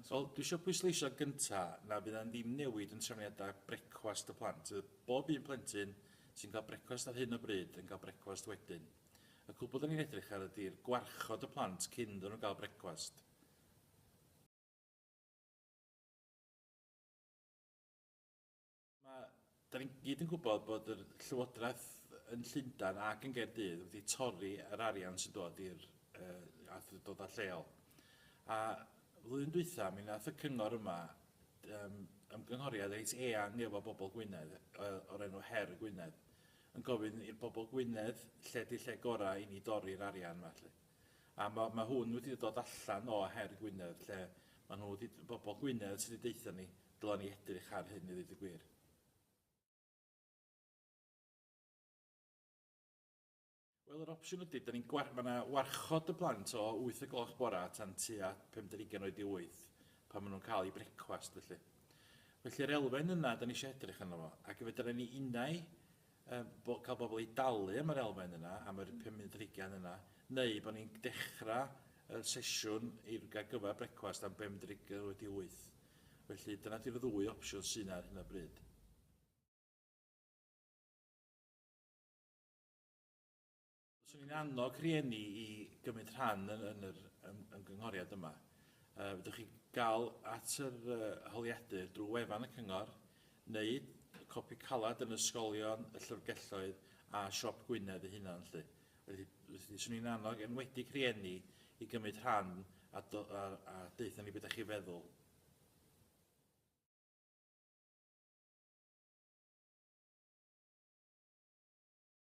So, dwi eisiau pwysleisio gynta na fydd e'n ddim newid yn trefniadau brecwast y plant. Fydd bob un plentyn sy'n cael brecwast ar hyn o bryd yn cael brecwast wedyn. Y cwbl da ni'n edrych ar ydy'r gwarchod y plant cyn iddyn nhw gael brecwast. Mae... da ni gyd yn gwybod bod yr Llywodraeth yn Llundain ac yn Gaerdydd wedi torri yr arian sy'n dod i'r uh, awdurdodau lleol. A flwyddyn dwytha, mi nath y cyngor yma um, ymgynghoriad reit eang efo bobl Gwynedd o'r enw Her y Gwynedd yn gofyn i'r bobl Gwynedd lle di lle gorau i ni dorri'r arian yma felly. A ma' ma' hwn wedi dod allan o her Gwynedd lle ma' nhw 'di d- bobol Gwynedd sy' 'di deutha ni dyla ni edrych ar hyn i ddeud y gwir. Wel yr opsiwn ydi 'dan ni'n gwar- ma' 'na warchod y plant o wyth o gloch bora tan tua pum deg ugain oed i wyth pan ma' nhw'n ca'l 'u brecwast felly. Felly'r elfen yna 'dan ni isio edrych arno fo ac fedran ni unai Yym, bo- cael bobl i dalu am yr elfen yna, am yr pum munud ar hugain yna, neu bo' ni'n dechra y sesiwn i'r ar gyfer brecwast am bum munud ar hugain wedi wyth. Felly, dyna 'di'r ddwy opsiwn sy' 'na ar hyn o bryd. Swn i'n annog rhieni i gymryd rhan yn, yn yr ym, ymgynghoriad yma. Uh, fydwch chi gael at yr uh, holiadur drwy wefan y cyngor neu copi calad yn ysgolion, y llyfrgelloedd a siop Gwynedd ei hunan. Lly. Felly, felly swn i'n annog enwedig rhieni i gymryd rhan a, do, a, a deutha ni beth ydych chi feddwl.